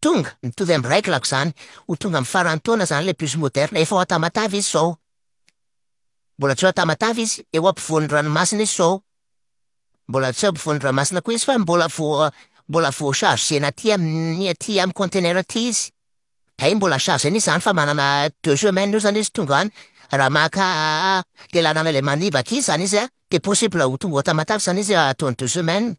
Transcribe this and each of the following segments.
Tonga, mitovy amin'ny règle-ko izany, ho tonga amin'ny faran'ny taona izany ilay bus moderne, efa ao Tamatave izy izao. Mbola tsy ao Tamatave izy, eo ampovoan'ny ranomasina izy izao. Mbola tsy eo ampovoan'ny ranomasina koa izy fa mbola vao mbola vao charger-na aty amin'ny aty amin'ny conteneur aty izy. Hay mbola charger-na izy izany fa manana deux semaines eo izany izy tonga any. Raha maka le lalana ilay manibaka iny izany izy an, dia possible ho tonga ao Tamatave izany izy ataony deux semaines.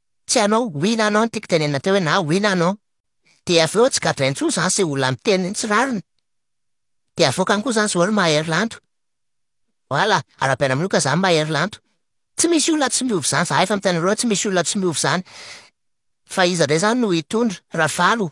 Tsy hanao oui na non ny tiako tenenina teo hoe na oui na non. Dia avy eo tsy gadraina intsony izany izay olona miteny tsy rariny. Dia avoakany koa izany izao ry Mahery Lanto. Voilà, arahabaina amin'io ka izany Mahery Lanto. Tsy misy olona tsy miova izany, izahay efa miteny anareo hoe tsy misy olona tsy miova izany. Fa iza indray izany no hitondra? Ravalo?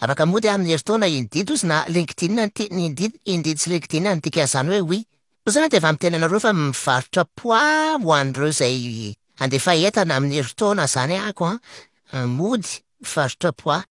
Afaka mody amin'ny herintaona indeed ozy na linkedin no tiany indeed, indeed sy linkedin no dikan'izany hoe oui. Sao zany dia efa miteny anareo fa mivarotra poids ho an'ireo izay handefa entana amin'ny herintaona zany aho an, mody mivarotra poids.